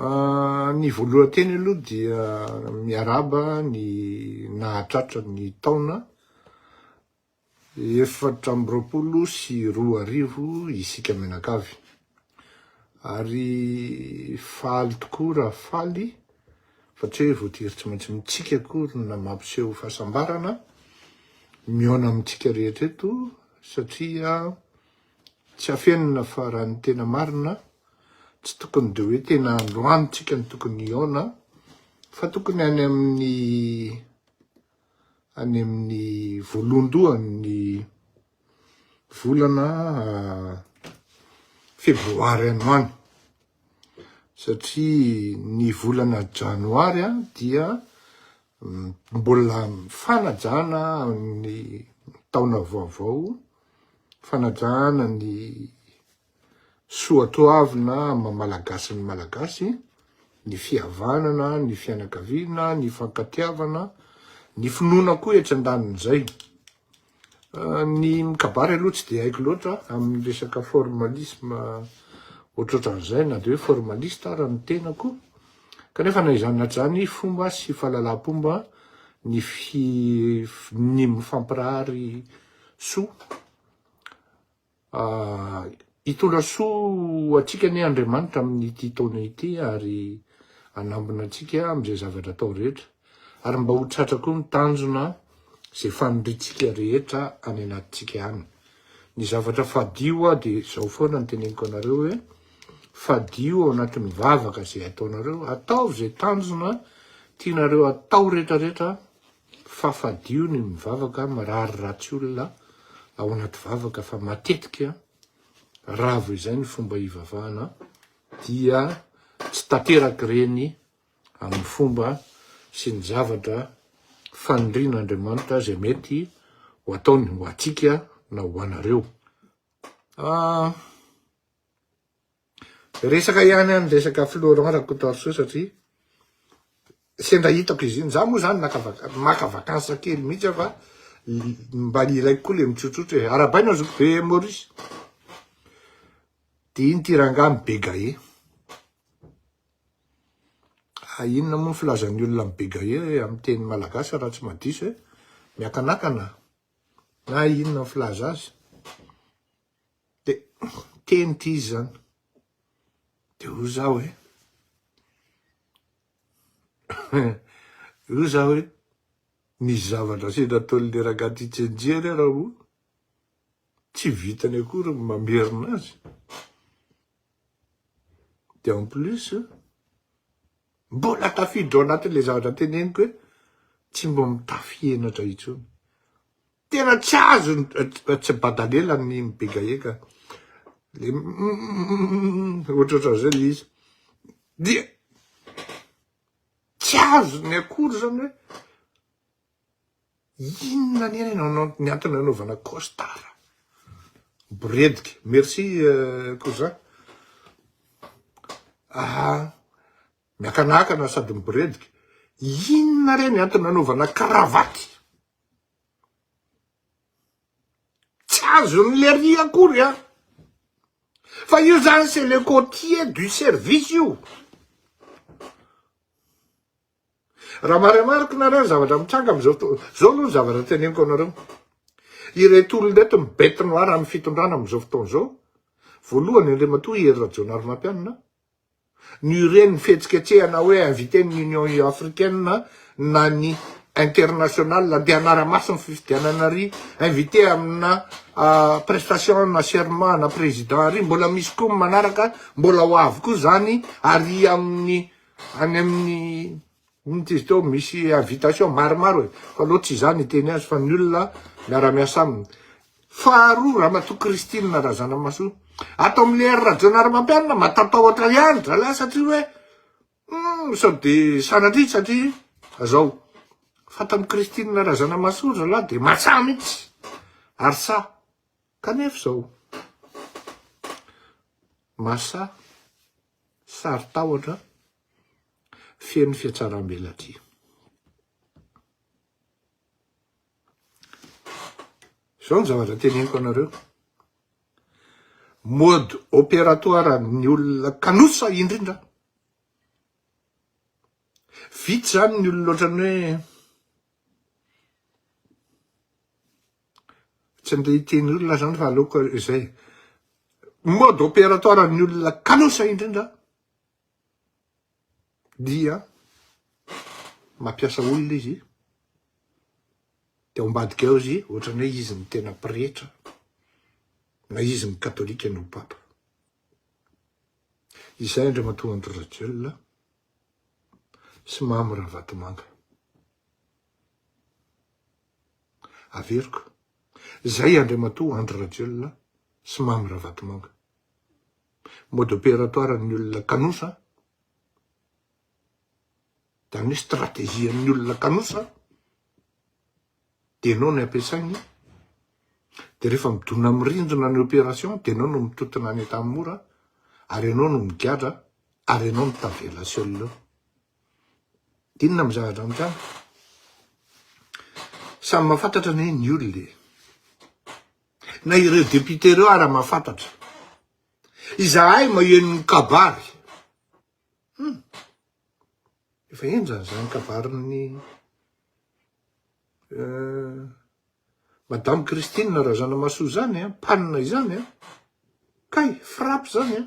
Ah, ny voalohan-teny aloha dia miaraba ny nahatratra ny taona efatra amby roapolo sy roa arivo isika mianakavy. Ary faly tokoa raha faly fa tsy hoe voatery tsy maintsy mitsika akory na mampiseho fahasambarana mihaona amintsika rehetra eto satria Tsy afenina fa raha ny tena marina tsy tokony dia hoe tena androany tsika no tokony hihaona fa tokony any amin'ny any amin'ny voalohandohan'ny volana ah, febroary any any satria ny volana janoary ah, dia mm, mbola fanajana ny taona vaovao fanajana ny soatoavina maha malagasy ny malagasy, ny fihavanana, ny fianakaviana, ny fankatiavana, ny finoana koa etsy andanin'izay. Ny mikabary aloha tsy dia haiko loatra amin'ny resaka formalisme ohatrohatran'izay na dia hoe formaliste ara ny tenako, kanefa na izany na tsy izany fomba sy fahalalampomba ny fi- ny mifampirary soa. Hitondra soa ho antsika anie Andriamanitra amin'ity taona ity ary hanambina antsika amin'izay zavatra atao rehetra ary mba ho tratra koa ny tanjona izay faniriantsika rehetra any anatintsika any. Ny zavatra fadio aho dia izao foana no teneniko anareo hoe fadio ao anatin'ny vavaka izay ataonareo, ataovy izay tanjona tianareo atao rehetra rehetra Fa fadio ny mivavaka, mirary ratsy olona ao anaty vavaka fa matetika ravo izay ny fomba hivavahana dia tsy tanteraka ireny amin'ny fomba sy ny zavatra fanirian'Andriamanitra izay mety ho ataony ho antsika na ho anareo. Ah. Resaka ihany any resaka Florent Rakotaorisoa satria sendra hitako izy iny, za moa zany naka maka vacances kely mihitsy aho fa mba ilaiko koa le mitsotsotry e, arabaina ny zokibe Maurice de iny ty rangahy mibegahe, ah inona moa ny filazan'ny olona mibegahe amin'ny teny malagasy raha tsy mahadiso e, miakanakana na inona ny filaza azy. De teny ty izy zany. De hoy za hoe hoy za hoe misy zavatra sy nataon'le rangahy ty Tsenjia re Raoul tsy vitany akory ny mamerina azy. De en plus mbola tafiditra ao anatin'le zavatra teneniko hoe tsy mba mitafy henatra intsony. Tena tsy azo tsy badalela ny mibegaeka le ohatrohatran'izay le izy dia tsy azo ny akory zany hoe inona anie ny ny antony anaovana costard boredika merci euh, cousin aha miakanakana sady miboredika inona re ny antony anaovana karavaty Tsy azony lery akory an! Fa io zany c'est le côtier du service io. Raha marimariko nareo ny zavatra mitranga amizao to, zao aloha ny zavatra teneniko anareo, ireto olona ireto ny bête noire amin'ny fitondrana amizao fotoana izao, voalohany Andriamatoa Hery Rajaonarimampianina, no ireny fihetsiketsehana hoe inviter ny Union Africaine na ny international dia hanara-maso ny fifidianana ry inviter amina prestation na serment ana président ry mbola misy koa ny manaraka mbola ho avy koa zany ary amin'ny any amin'ny Inty izy teo misy invitation maromaro e! fa loatra tsy za niteny azy fa ny olona miara miasa aminy. Faharoa ramatoa Christine Razanamahasoa ato amle ry Rajaonarimampianina matatahotra ihany zalahy satria hoe humm sao de sanatria satria zao fa tam Christine Razanamahasoa ry zalahy de matsaha mitsy ary saha kanefa zao masaha saron-tahotra feno fihatsaram-belatria. Izao ny zavatra teneniko anareo, mode opératoire ny olona kanosa indrindra, vitsy zany ny olona ohatran'ny hoe, Tsy andeha hiteny olona zany fa aleoko izay. Mode opératoire an'ny olona kalosa indrindra dia mampiasa olona izy dia ao ambadika ao izy ohatrany hoe izy no tena pretra na izy no katolika no papa. Izay Andriamatoa Andry Rajoelina sy Mamy Ravatomanga. Averiko. Zay Andriamatoa Andry Rajoelina sy Mamy Ravatomanga. Mode opératoire an'ny olona kanosa, zany hoe stratégie an'ny olona kanosa dia enao no ampiasainy dia rehefa midona amin'ny rindrina ny opération dia enao no mitontona any Antanimora ary enao no migadra ary enao no tavela seul eo. Inona moa zavatra amiko an? Samy mahafantatra anie ny olona e. Na ireo député ireo ara mahafantatra. Izahay maheno ny kabary. Hmm. Efa henjana izany kabarin'ny euh, Madame Christine Razanamasoa izany, eh, panina izany. Eh. Kay, frappe izany. Eh.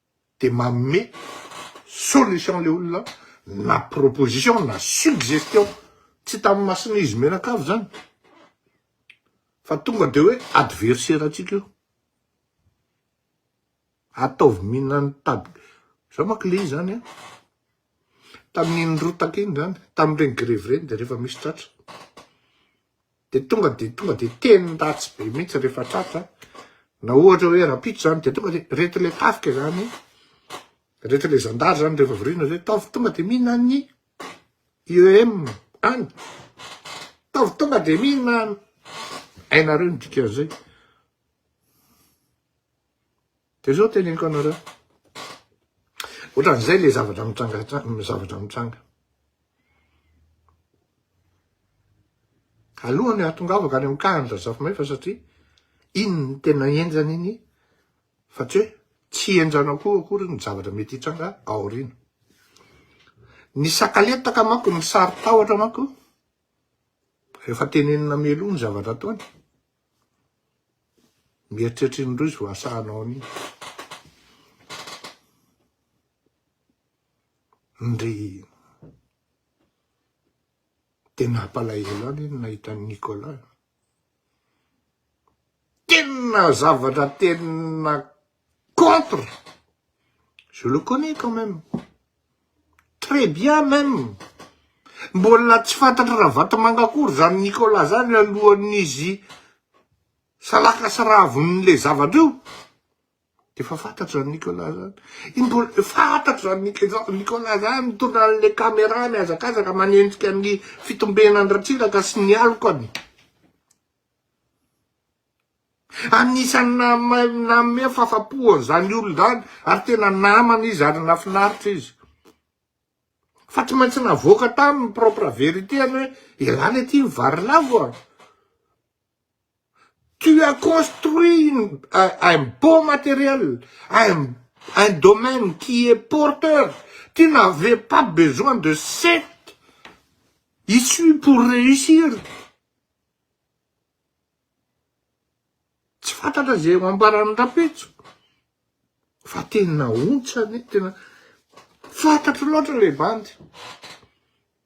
de manome solution le olona na proposition na suggestion tsy tamin'ny mason'i izy mianakavy zany fa tonga de hoe adversaire antsika io ataovy mihinan'ny tady zao manko le izy zany a tamin'iny rotaka iny zany tamin'ireny grevy ireny de rehefa misy tratra de tonga de tonga de teny ratsy be mihitsy rehefa tratra na ohatra hoe rapitso zany de tonga de reto le tafika zany reto le zandary zany rehefa vorina zay taovy tonga de mina ny IEM any taovy tonga de mina hainareo ny dikan'izay Dia izao teneniko anareo. Ohatran'izay ilay zavatra mitranga, zavatra mitranga. Alohan'ny hahatongavako any amin'ny kahan'ny Razafimay fa satria iny ny tena henjana iny fa tsy hoe tsy henjana koa akory ny zavatra mety hitranga aoriana. Ny sakaletaka manko, ny saro-tahotra manko, rehefa tenenina meloa ny zavatra ataony, Mieritreritra iny indroa izy vao asahanao an'iny. Ndry dia nampalahelo ahy ny nahita an'i Nicolas. Tena zavatra tena contre je le connais quand même très bien même mbola tsy fantatry Ravatomanga akory zany Nicolas zany alohan'izy salaka sy raviny le zavatra io de efa fantatry zany Nicolas zany iny mbola fantatry zany Nicolas zany mitondra an'le caméra mihazakazaka manenjika ny fitombenan'i Ratsiraka sy ny alokany Anisan'ny nanome fahafapo an'izany olona izany ary tena namana izy ary nafinaritra izy. Fa tsy maintsy navoaka taminy ny propre vérité-ny hoe elah le ty vary lavo a! Tu as construit une, un beau matériel, un, un domaine qui est porteur, tu n'avais pas besoin de cette issue pour réussir. Tsy fantatra izay ho ambaran'ny rapetso fa tena ontsa anie, tena fantatro loatra ilay bandy.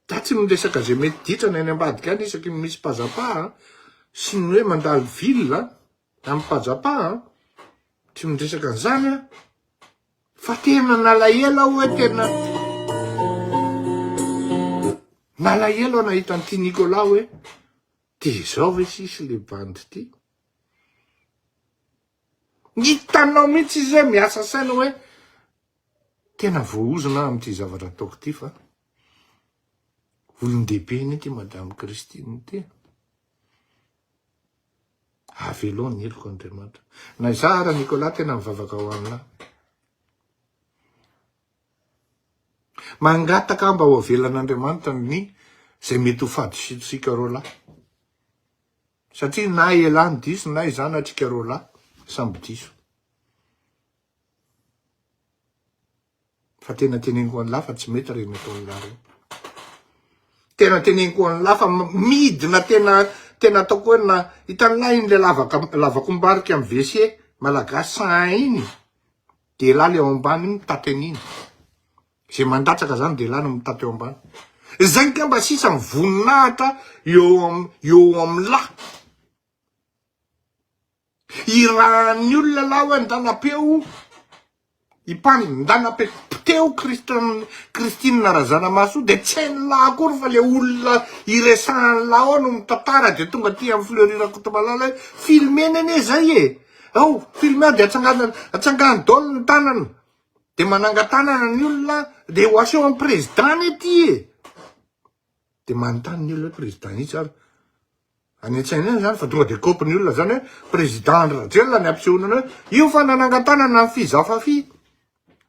Za tsy miresaka izay mety ditrany any ambadika any isaky ny misy pazapa sy ny hoe mandalo ville amin'ny pazapa, tsy miresaka an'izany aho fa tena nalahelo aho hoe tena nalahelo aho nahita an'ity Nicolas hoe De zao ve sisa le bandy ty? Ny hitanao mihitsy izy hoe miasa saina hoe tena voahozona aho amin'ity zavatra ataoko ity fa olon-dehibe anie ity Madame Christine ity. Avelao ny heloko Andriamanitra. Na izaho ara Nicolas tena mivavaka ho aminao. Mangataka mba ho avelan'Andriamanitra ny zay mety ho fadisontsika roa lahy. Satria na ialahy no diso na izaho na atsika roa lahy samby diso. Fa tena teneniko ho an'lah fa tsy mety reny ataon'lah reny. Tena teneniko ho an'lah fa midina tena tena ataoko hoe na hitan'lah iny le lavaka lavakombarika amin'ny WC malagasy sahainy. Dela le ao ambany iny mitaty an'iny. Ze mandatsaka zany dela no mitaty eo ambany. Zay ngamba sisa ny voninahitra eo am eo amla. Irahan'ny olona la oe ndanapeo i pan ndanape poteho Christian Christine Razanamahasoa de tsy hain'la akory fa le olona iresahan'la ao no mitantara de tonga aty am Fleury Rakotomalala hoe filmeny anie zay e. Ao, filmer dia atsangana, atsangano daholo ny tanana. Dia manangan-tanana ny olona, dia ho aseho amin'ny président anie ity e. Dia manontany ny olona hoe président itsy ary. Any an-tsaina any zany fa tonga dia kopy ny olona zany hoe président Andry Rajoelina ny ampisehoana anao hoe io fa nanangan-tanana ny Fiza Fafy.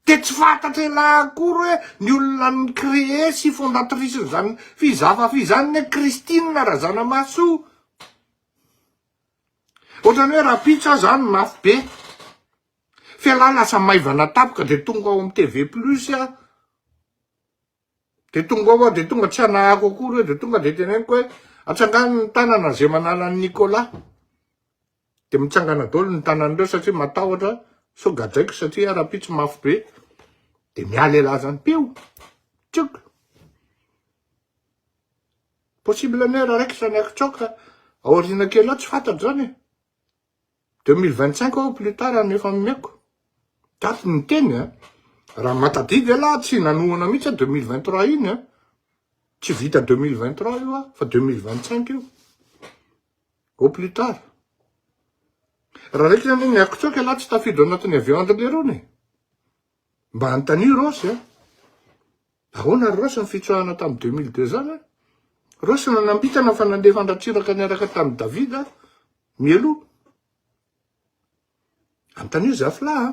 Dia tsy fantatra elah akory hoe ny olona ni-créer sy fondatrice an'izany Fiza Fafy izany anie Christine Razanamahasoa. Ohatrany hoe rahampitso aho zany mafy be, f'ialahy lasa maivana tampoka dia tonga ao amin'ny TV plus aho, dia tonga ao aho dia tonga tsy hanahako akory hoe dia tonga dia teneniko hoe atsangano ny tanana zay manala an'i Nicolas, dia mitsangana daholo ny tanan'ireo satria matahotra sao gadraiko satria iah rahampitso mafy be, dia miala ialahy zany, pio! tsioka! possible ny hoe raikitra ny akitsaoka aoriana kely ao tsy fantatra zany e, deux mille vingt cinq au plus tard no efa omeko daty niteny a, raha matadidy elah tsy nanohana mihitsy a deux mille vingt trois iny a, tsy vita deux mille vingt trois io a fa deux mille vingt cinq io au plus tard, raha raikitra anie ny akitsaoka elah tsy tafiditra ao anatin'ny avion an'ireo lerony e. Mba anontanio Rossy a! Ahoana ry Rossy ny fitsoahana tamin'ny deux mille deux zany a! Rossy nanambitana fa nandefa an-dRatsiraka niaraka tamin'i David aho mialoha. Anontanio Zafla a!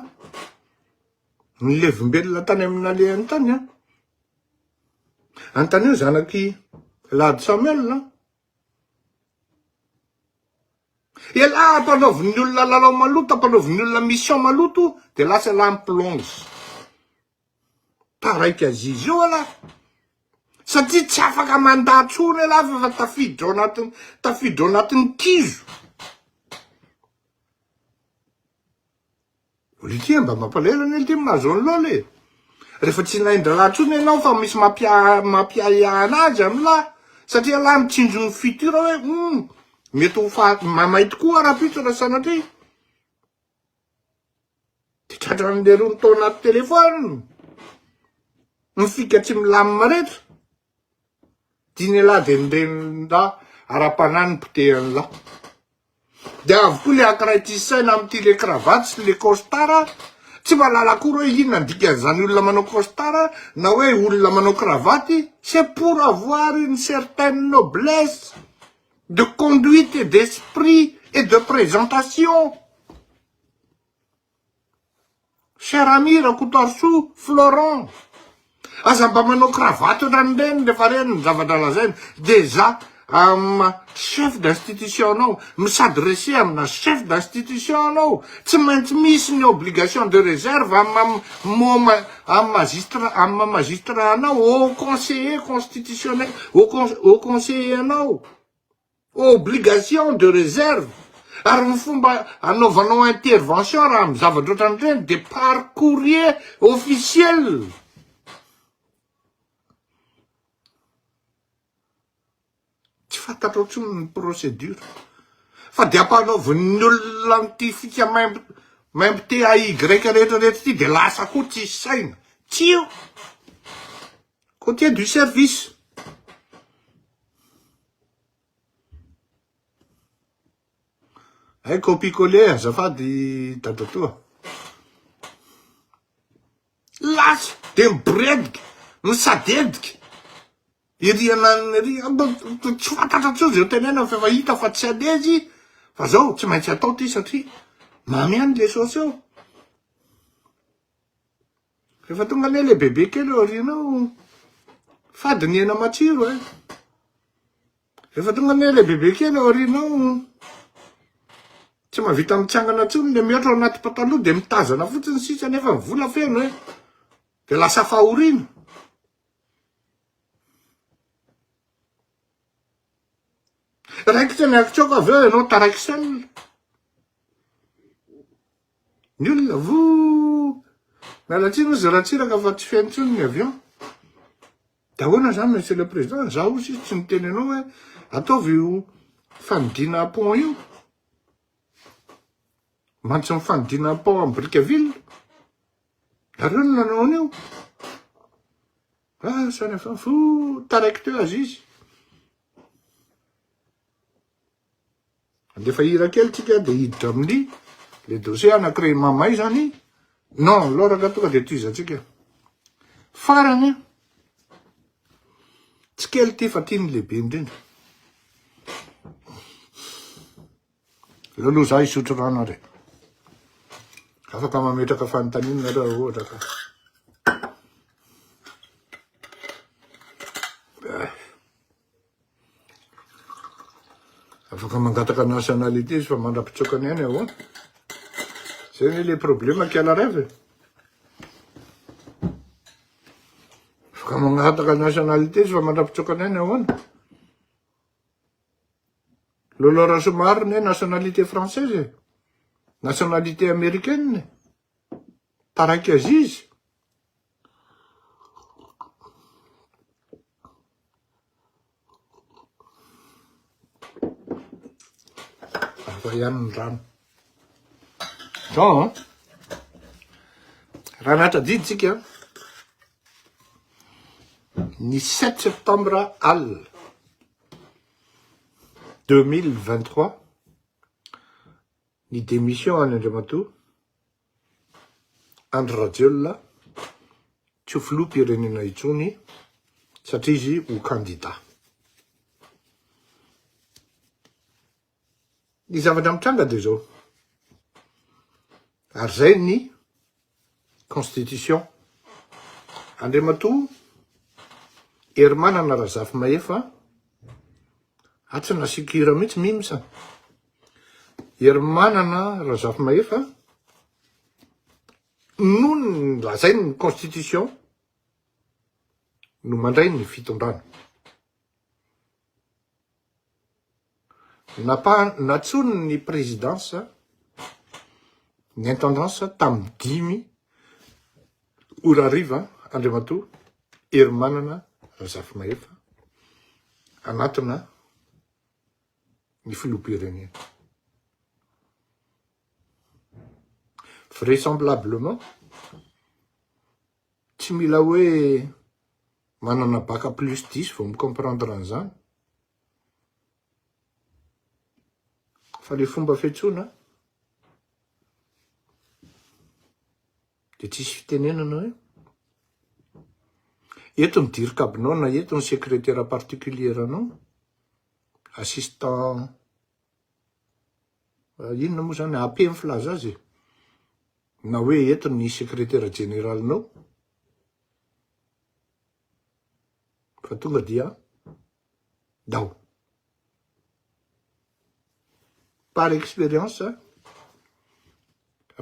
Ny levombelona tany amin'ny nalehany tany a! Anontanio zanak'i Lahady Samuel a! Elah ampanaovin'ny olona lalao maloto, ampanaovin'ny olona mission maloto de lasa elah mi-plonge. Taraiky Aziz io elah, satria tsy afaka mandà tsony elah f'efa tafiditra ao anatin'ny, tafiditra ao anatin'ny kizo. Lite mba mampalahelo anie lite mahazo an'i Lola e! Rehefa tsy nain-draharaha intsony ianao fa misy mampiahiahy an'azy an'i Lola satria Lola mitsinjo ny futur hoe humm mety ho faty mamay tokoa rahampitso raha sanatria de tratran'ny leirony tao anaty telephone ny fika tsy milamina rehetra. Tian'ialahy dia ny renin'lahy ara-panahy no potehan'ilahy. Dia avokoa le ankiray tia saina amin'ity le cravate sy le costard, tsy mahalala akory hoe inona ny dikan'izany olona manao costard na hoe olona manao cravate, c'est pour avoir une certaine noblesse de conduite et d'esprit et de présentation. Cher ami Rakotoarisoa Florent, aza mba manao cravate ohatran'ny reny rehefa reny ny zavatra lazaina, dejà amina chef d'institution anao no s'adresser amina chef d'institution anao, tsy maintsy misy ny obligation de réserve amina moma amin'ny magistrat amin'ny maha magistrat anao, au conseiller constitutionnel, au conseiller anao. Obligation de réserve, ary ny fomba anaovanao intervention raha amin'ny zavatra ohatran'ireny dia par courrier officiel. Tsy fantatrao intsony ny procédure fa dia ampanaovin'ny olona an'ity fika maimbo maimbo T A Y rehetra rehetra ity dia lasa koa tsisy saina. Tsia! Côtier du service. Hay copie coller azafady dadatoa. Lasa dia miboredika, misadedika, ery ananana ery, tsy fantatra intsony izay hotenenana fa efa hita fa tsy andeha izy fa zao tsy maintsy atao ity satria mamy ihany le saosy eo. Rehefa tonga anie le bebe kely eo aoriana ao, fady ny hena matsiro eh. Rehefa tonga anie le bebe kely eo aoriana ao, tsy mahavita mitsangana intsony le mihoatra ao anaty pataloha de mitazana fotsiny sisa nefa ny vola feno eh. De lasa fahoriana. Raikitra ny akitsoko avy eo ianao taraik'salona. Ny olona vouu! Miala tsiny ozy Ratsiraka fa tsy feno tsony ny avion. De ahoana zany Monsieur le Président? Za ozy sisa tsy niteny anao hoe ataovy io fanidina pont io. Mantsy ny fanidina pont am Brickaville. Nareo no nanao an'io. Ah, samy efa fou, taraiky teo azizy. Andefa hira kely tsika dia hiditra amin'ny le dossier anankiray i Mamay izany. Non, loraka tonga dia tohizantsika. Farany, tsy kely ity fa ity ny lehibe indrindra. Laloha za hisotro rano ary. Afaka mametraka fanontaniana nareo ohatra ka. Afaka mangataka nationalité izy fa mandra-pitsoaka ny ainy ahoana? Zay ve le problème kiala rêve e? Afaka mangataka nationalité izy fa mandra-pitsoaka ny ainy ahoana? Lolo Rasomaro ne nationalité française e? Nationalité américaine? Taraiky aziz? Zao ihany ny rano. Zao, raha nahatradidintsika, ny 7 septembre alina 2023, ny démission an'Andriamatoa Andry Rajoelina tsy ho filoham-pirenena intsony satria izy ho kandida. Ny zavatra mitranga dia izao, ary izay ny constitution. Andriamatoa Herimanana Razafimahefa, atsy nasiako hira mihitsy mimsa, Herimanana Razafimahefa, noho ny lazainy ny constitution no mandray ny fitondrana. Natsoiny ny présidence ny intendance tamin'ny dimy ora hariva Andriamatoa Herimanana Razafimahefa anatina ny filoham-pirenena. Vraisemblablement, tsy mila hoe manana bac plus dix vao mi-comprendre an'izany, fa le fomba fiantsoana dia tsisy fitenenana hoe eto ny dirikabinao na eto ny sekretera particulier-nao, assistant inona moa zany AP ny filaza azy e na hoe eto ny sekretera jeneralinao fa tonga dia dao par expérience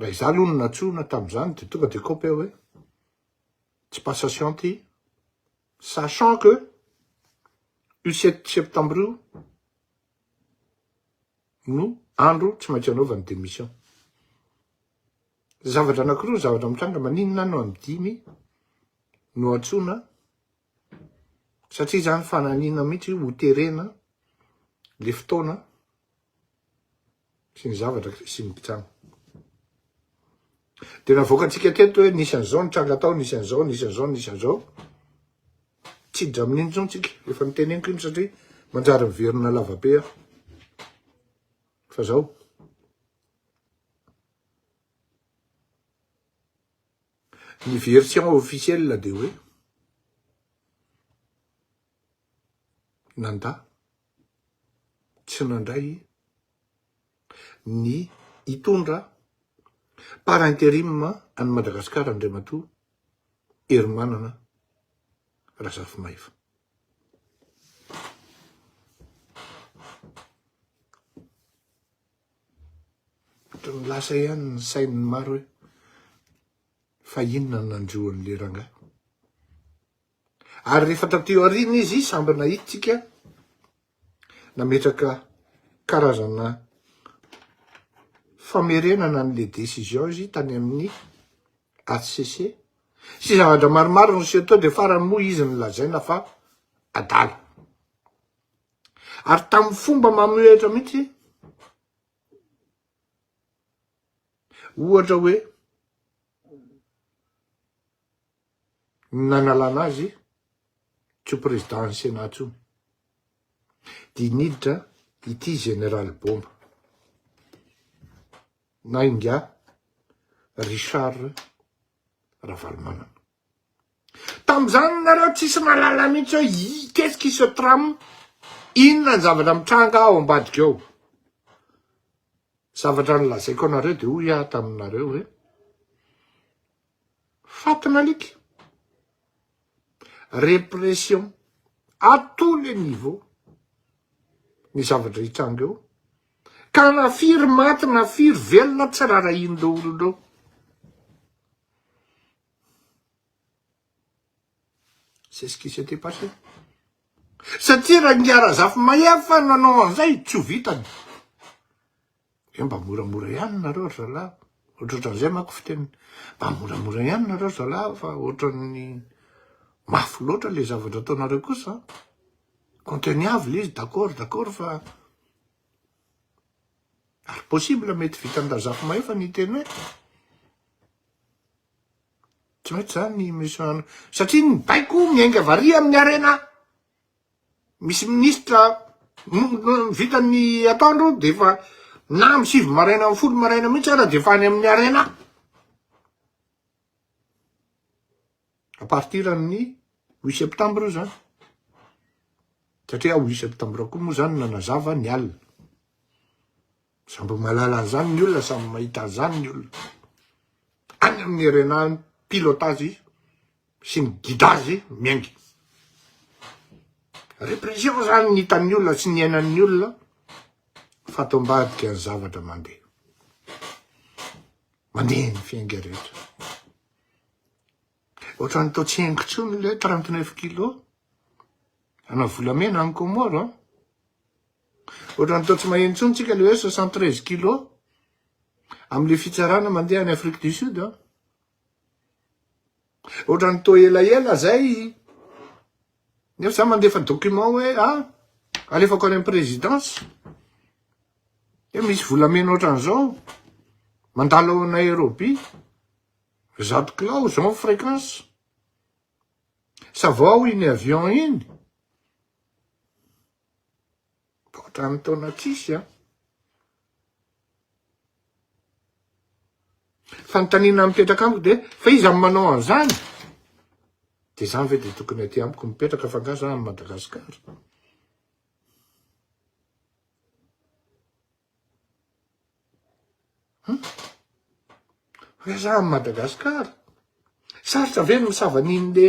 raha izaho aloha no natsoina tamin'izany dia tonga dia kaopy aho hoe tsy passation ty, sachant que io sept septembre io no andro tsy maintsy anaovany démission. Zavatra anakiroa zavatra mitranga, maninona no amin'ny dimy no antsoina, satria zany fananina mihitsy ho terena le fotoana, sy ny zavatra sy ny mpitsano. Dia navoakantsika teto hoe nisy an'izao nitranga tao, nisy an'izao, nisy an'izao, nisy an'izao. Tsy hiditra amin'iny intsony tsika, efa niteneniko iny satria manjary miverina lavabe aho. Fa zao. Ny version officielle dia hoe nandà, tsy nandray ny hitondra par interim an'i Madagasikara Andriamatoa Herimanana Razafimahefa. Ohatran'ny lasa ihany ny sain'ny maro hoe fa inona no nandroan'ilay rangahy. Ary rehefa taty aoriana izy samby nahitintsika nametraka karazana famerenana an'le décision izy tany amin'ny HCC sy zavatra maromaro niseho teo dia farany moa izy nilazaina fa adala. Ary tamin'ny fomba mamohehitra mihitsy ohatra hoe ny nanalana azy tsy ho président-n'ny Sénat intsony. Dia niditra ity Général Bomba na ingahy Richard Ravalomanana. Tamin'izany nareo tsisy mahalala mihitsy hoe qu'est-ce qui se trame, inona ny zavatra mitranga ao ambadika ao. Zavatra nolazaiko anareo dia hoy aho taminareo hoe Fatin' alika. Répression à tous les niveaux ny zavatra hitranga eo, ka na firy maty na firy velona tsy rarahian'ireo olona ireo. C'est ce qui s'était passé. Satria Rangihy Razafimahefa nanao an'izay tsy ho vitany. Hoe mba moramora ihany nareo ry zalahy, ohatrohatran'izay manko fiteniny, mba moramora ihany nareo ry zalahy fa ohatran'ny mafy loatra le zavatra ataonareo kosa an, conteniable izy d'accord d'accord fa ary possible mety vitan-dRazafimahefa ny hiteny hoe tsy mety zany i monsieur Anna satria ny baiko miainga variana amin'ny harena misy ministra vita ny ataondreo de efa na am sivy maraina am folo maraina mihitsy ara de efa any amin'ny arena à partir amin'ny huit septembre io zany satria huit septembre koa moa zany nanazava ny alina Samby mahalala an'izany ny olona, samy mahita an'izany ny olona. Any amin'ny RNA ny pilotage sy ny guidage miaingina. Répression zany ny hitan'ny olona sy niainan'ny olona fa ato ambadika ny zavatra mandeha. Mandeha ny fiainga rehetra. Ohatrany toa tsy henoko intsony ilay 39 kilos ana volamena any Comores. Ohatran'ny toa tsy maheno intsony tsika le hoe 73 kilos amle fitsarana mandeha any Afrique du Sud an. Ohatran'ny toa elaela zay nefa za mandefa document hoe ah alefako any am présidence hoe misy volamena ohatran'izao mandalo ao Nairobi zato kilao zao fréquence sa vao iny avion iny Ohatran'ny taona tsisy an! Fanontaniana mipetraka amiko dia fa iza no manao an'izany? Dia izany ve dia tokony aty amiko mipetraka fa angaha za any Madagascar? Hoe za any Madagascar? Sarotra ve ny misava an'iny le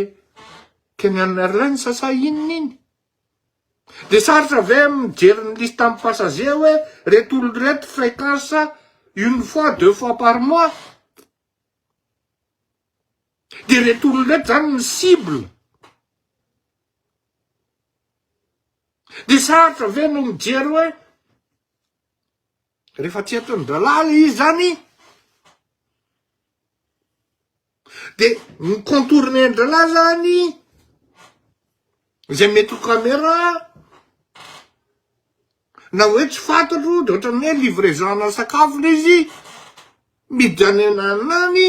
Kenyan Airlines sa inona iny? Dia sarotra ve mijery ny liste am passager hoe reto olona reto fréquence une fois deux fois par mois? Dia reto olona reto zany ny cible? Dia sarotra ve no mijery hoe refa tsy eto ny dralala izy zany Dia ny contourner-ndralahy zany, izay mety ho camera, na hoe tsy fantatro, dia ohatran'ny hoe livraison-na sakafo ilay izy, miditra any ananana any,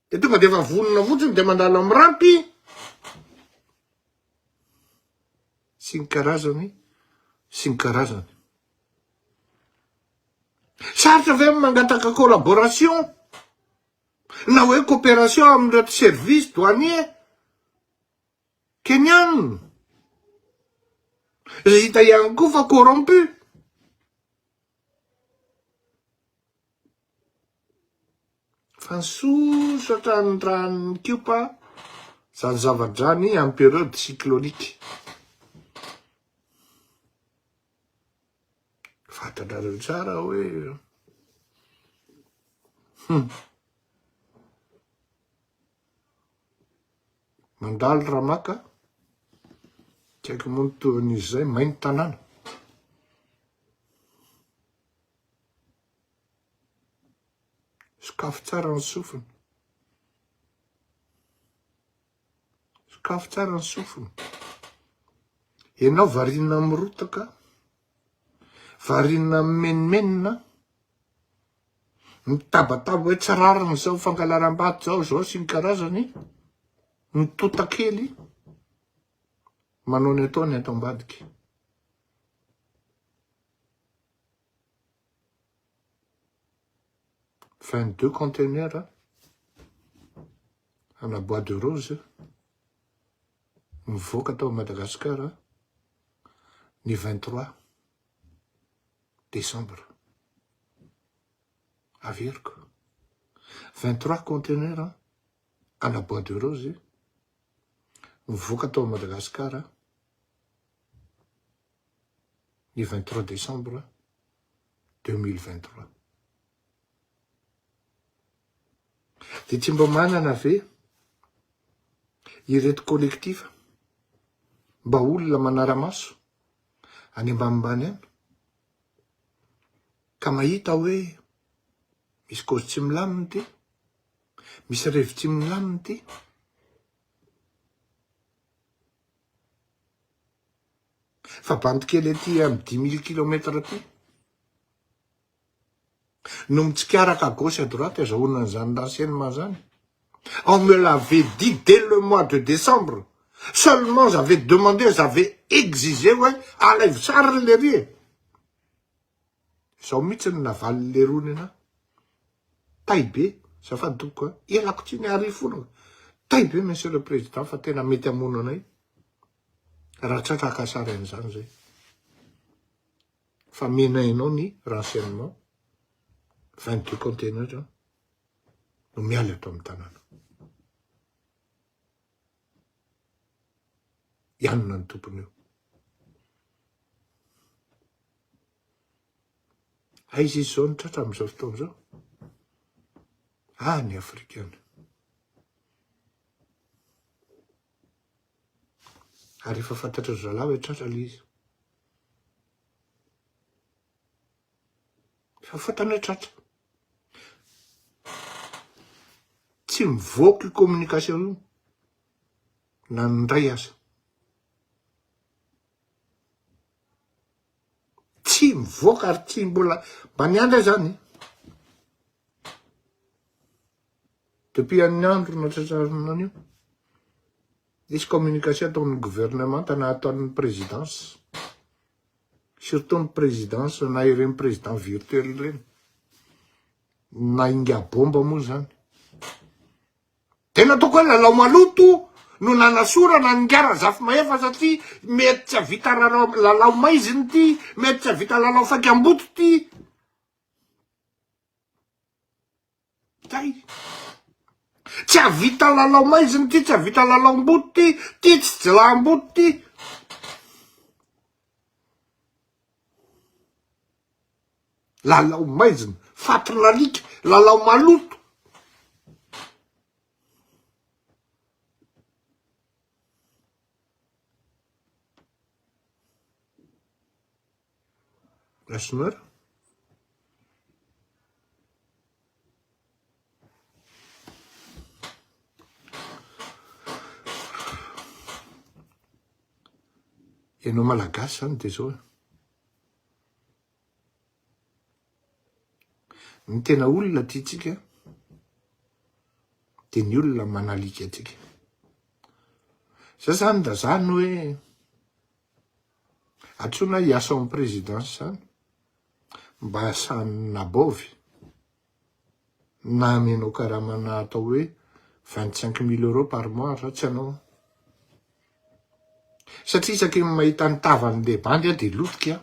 dia tonga dia efa vonona fotsiny dia mandalo amin'ny rampy, sy ny karazany sy ny karazany. Sarotra ve ny mangataka collaboration na hoe coopération amin'ireto services douaniers Kenyana? Izay hita ihany koa fa corrompu. Fa nisosa hatrany ny ranon'i Kiopa izany zava-drano iny en période cyclonique. Fantatrareo tsara hoe hum. Mandalo ramaka, tsy haiko moa ny tohin'izy izay, may ny tanàna. Sokafy tsara ny sofina. Sokafy tsara ny sofina. Ianao variana amin'ny rotaka, variana amin'ny menomenona, mitabataba hoe tsy rariny izao fangalaram-bato izao, izao sy ny karazany, mitota kely, manao ny ataony ato ambadika. Vingt-deux conteneurs ana bois de rose mivoaka tao Madagasikara ny vingt-trois décembre. Averiko, vingt-trois conteneurs ana bois de rose mivoaka tao Madagasikara ny vingt trois décembre deux mille vingt trois. Dia tsy mba manana ve ireto collectif mba olona manara-maso any ambanimbany any ka mahita hoe misy cause tsy milamina ity, misy revy tsy milamina ity. fa bandy kely aty amin'ny dix mille kilomètre aty no mitsikaraka à gauche à droite azahoana an'izany renseignement zany on me l'avait dit dès le mois de décembre seulement j'avais demandé j'avais exigé hoe alaivo sariny lery e zao mihitsy ny navalin'ny leroa ny anah tay be zafady tompoko a elako tsy ny ary fona tay be monsieur le président fa tena mety hamono anay raha tsy haka sary an'izany izay fa menay anao ny renseignement 22 containers no miala eto amin'ny tanàna ianona ny tompony io aiza izy zao ny tratra amin'izao fotoana izao ah ny afrikana Ary efa fantatry ry zalahy hoe tratra ilay izy. Efa fantany hoe tratra. Tsy mivoaka io communication io na ny indray aza. Tsy mivoaka ary tsy mbola mba miandry ahy zany. Depuis an'ny andro natratrarana an'io, nisy communication tao amin'ny gouvernemanta na tao amin'ny présidence, surtout ny présidence na ireny président virtuel ireny, na ingabomba moa zany. Dia nataoko hoe lalao maloto no nanasorana an'i Ingahy Razafimahefa satria mety tsy hahavita lalao lalao maizina ity, mety tsy hahavita lalao faikam-boto ity. Kay! Tsy hahavita lalao maizina ity, tsy hahavita lalaom-boto ity, ity tsy jilaham-boto ity. Lalao maizina, faty lalika, lalao maloto. Gashinor? Ianao malagasy zany dia zao e. Ny tena olona tiantsika dia ny olona manalika antsika. Zay zany da zany hoe Antsoina hiasa ao amin'ny Présidence izany mba hahasahan'ny nabaovy na amenao karamana atao hoe vingt cinq mille euros par mois raha tsy anao an! Satria isaky ny mahita ny tavan'ny le bandy aho dia lotika an!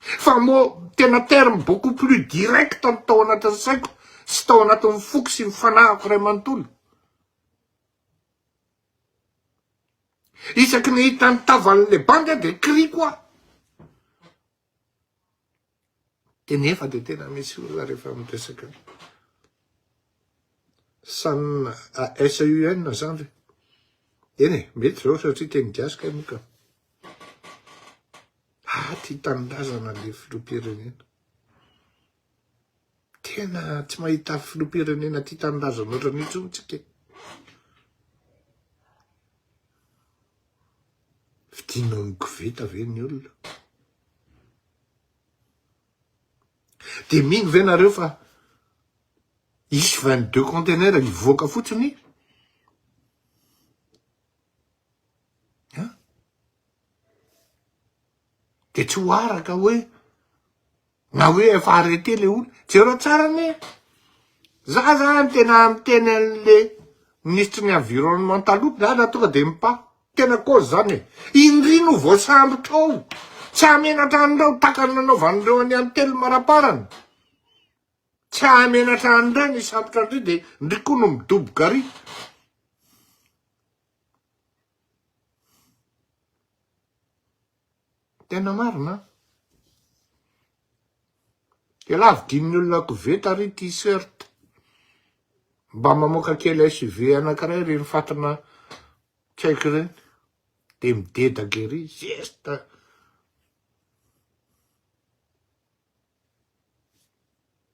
Fa moa tena terme beaucoup plus direct no tao anatin'ny saiko sy tao anatin'ny foko sy ny fanahiko iray manontolo. Isaky ny hita ny tavan'ilay bandy aho dia kiriko aho. Dia nefa dia tena misy olona rehefa miresaka san SEN zany re. Eny e, mety izao satria teny gasy kay moa ka. Ady tanindrazana le filoham-pirenena. Tena tsy mahita filoham-pirenena tia tanindrazana ohatran'io intsony tsika. Fidina amin'ny koveta ve ny olona? De mino ve nareo fa hisy 22 containers hivoaka fotsiny? An! Dia tsy ho araka hoe na hoe efa arrêté le olona, jereo tsara anie e! Za zany tena miteny an'le minisitry ny environnement taloha, za raha tonga dia mipà, tena cause zany e! Indry no voasambotro ao, tsy hahamenatra an'ireo tahaka ny nanaovan'ireo an'i Any Telo Maraparany, tsy hahamenatra an'ireny hisambotra an'ireny dia indry koa no midoboka ary. Tena marina an! Elah vidin'ny olona koveta ary ity shirt. Mba mamoaka kely SUV anankiray ireny fatina tsy haiko ireny dia midedaka ery, zesta.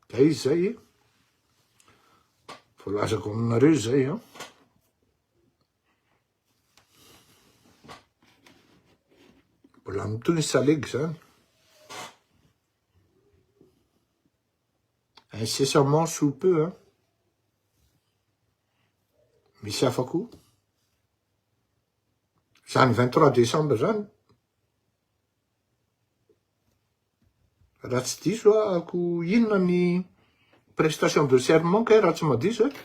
Dia izay e, voalazako aminareo izay an. Mbola mitohy ny salegy izany. Incessamment sous peu an. Misy hafa koa. Izany 23 décembre izany, Raha tsy diso ako inona ny prestation de serment kay raha tsy madiso eh?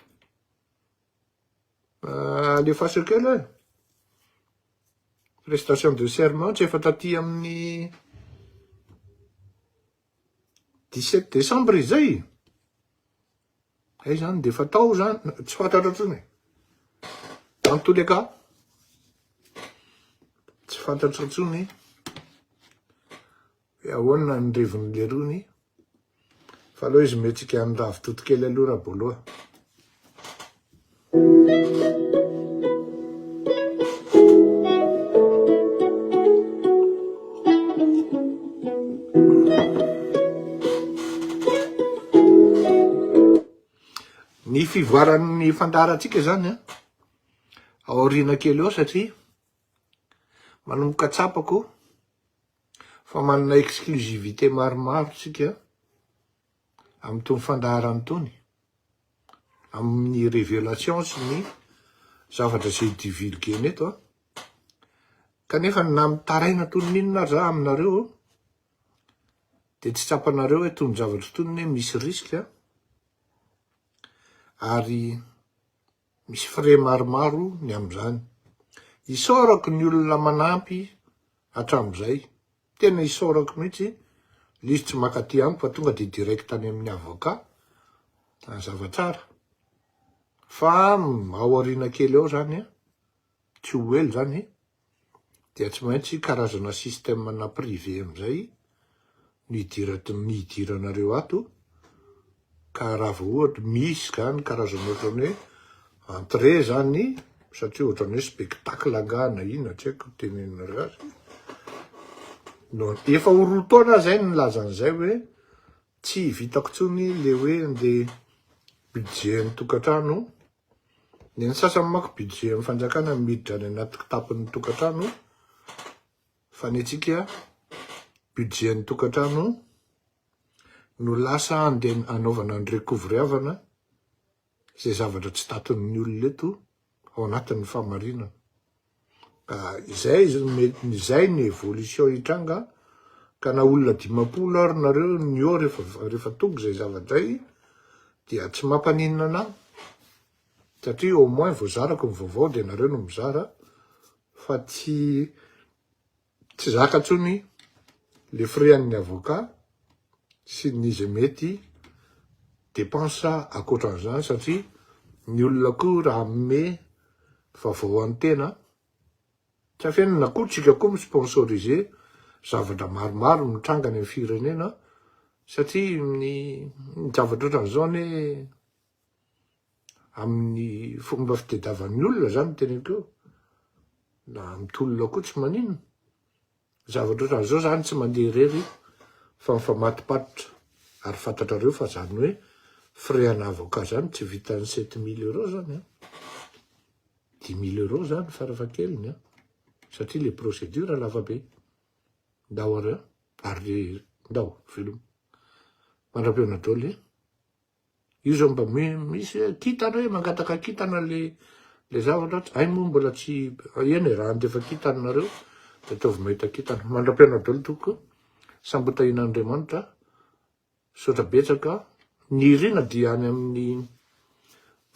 Euh, alefaso kely hoe prestation de serment tsy efa taty amin'ny 17 décembre izay Zay zany dia fatao zany, tsy fantatra intsony e. En tous les cas, tsy fantatra intsony hoe ahoana ny reviny lerony fa aleo izy mietsika an'i Ravitotokely aloha Raboloha. Ny fivoaran'ny fandaharantsika izany an, aoriana kely eo satria manomboka tsapako fa manana exclusivité maromaro isika. Amin'itony fandaharana itony, amin'ny révélation sy ny zavatra izay divulguena eto an, kanefa na mitaraina toy ny inona aza aminareo dia tsy tsapanareo hoe itony zavatra itony anie misy risque an, ary Misy frais maromaro ny amin'izany. Isaorako ny olona manampy hatramin'izay, tena isaorako mihitsy. Ilay izy tsy maka aty amiko fa tonga dia direct any amin'ny avocat, mazava tsara. Fa ao aoriana kely ao izany, tsy ho ela izany, dia tsy maintsy karazana système na privé amin'izay no hidiranareo ato ka raha vao ohatra misy izany karazana ohatran'ny hoe entrée izany satria ohatran'ny hoe spectacle angaha na inona tsy haiko tenenanareo azy no efa ho roa taona izay no nilaza an'izay hoe tsy vitako intsony ilay hoe andeha budget ny tokantrano Ny an'ny sasany manko budget an'ny fanjakana miditra any anaty kitapon'ny tokantrano fa ny antsika budget an'ny tokantrano no lasa andeha anaovana ny recovery avana izay zavatra tsy taton'ny olona eto ao anatin'ny famarinana. Ka izay izay ny evolution hitranga ka na olona dimampolo ary nareo ny eo rehefa rehefa tonga izay zavadray dia tsy mampaninona anah satria au moins voazarako ny vaovao dia nareo no mizara fa tsy Tsy zaka tsony le frais an'ny avocat sy ny ze mety depense akoatran'izany satria ny olona koa raha hanome vavao an'ny tena tsy afenina na koa tsika koa mi sponsoriser zavatra maromaro mitranga any amin'ny firenena satria ny zavatra ohatran'izao anie amin'ny fomba fitediavan'ny olona zany ny teneniko io, na amin'ny tolona koa tsy maninona, zavatra ohatran'izao zany tsy mandeha irery fa mifamatopatotra, ary fantatrareo fa zany hoe frais ana avocat zany tsy vitan'ny sept mille euros zany an, dix mille euros zany farafahakeliny an, satria le procédure lava be, ndao ary an, ary ndao veloma, mandra-pihaona daholo e, Io zao mba misy hoe kintana hoe mangataka kintana le le zavatra tsy hay moa mbola tsy eny e raha andefa kintana nareo dia ataovy mahita kintana mandra-piainao daholo tompoko sambotahin'Andriamanitra sotra betsaka ny irina dia any amin'ny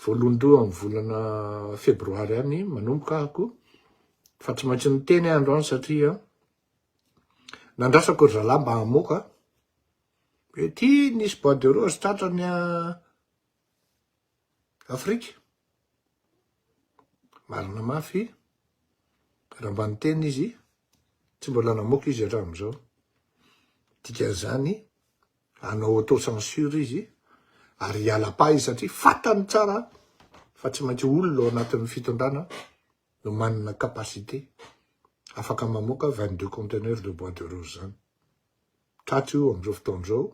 voalohandoha amin'ny volana febroary any manomboka ahako fa tsy maintsy niteny andro any satria nandrasako ry zalahy mba hamoaka Ety nisy bois de rose tratrany a Afrika. Marina mafy raha mba niteny izy, tsy mbola namoaka izy hatramin'izao. Dikan'izany hanao auto censure izy ary hiala pas izy satria fantany tsara fa tsy maintsy olona ao anatin'ny fitondrana no manana capacité afaka mamoaka 22 conteneurs de bois de rose zany. tato io amin'izao fotoana izao,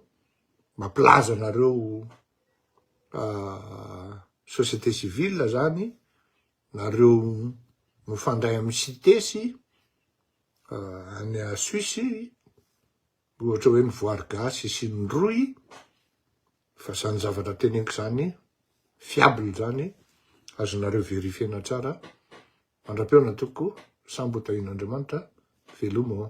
mampilaza anareo société civile zany, nareo mifandray amin'ny CITES any Suisse, ohatra hoe ny voary gasy sy ny rohy, fa izany zavatra teneniko izany fiable izany, azonareo verifier-na tsara, mandra-peona tompoko, sambo ho tahian'Andriamanitra, veloma o.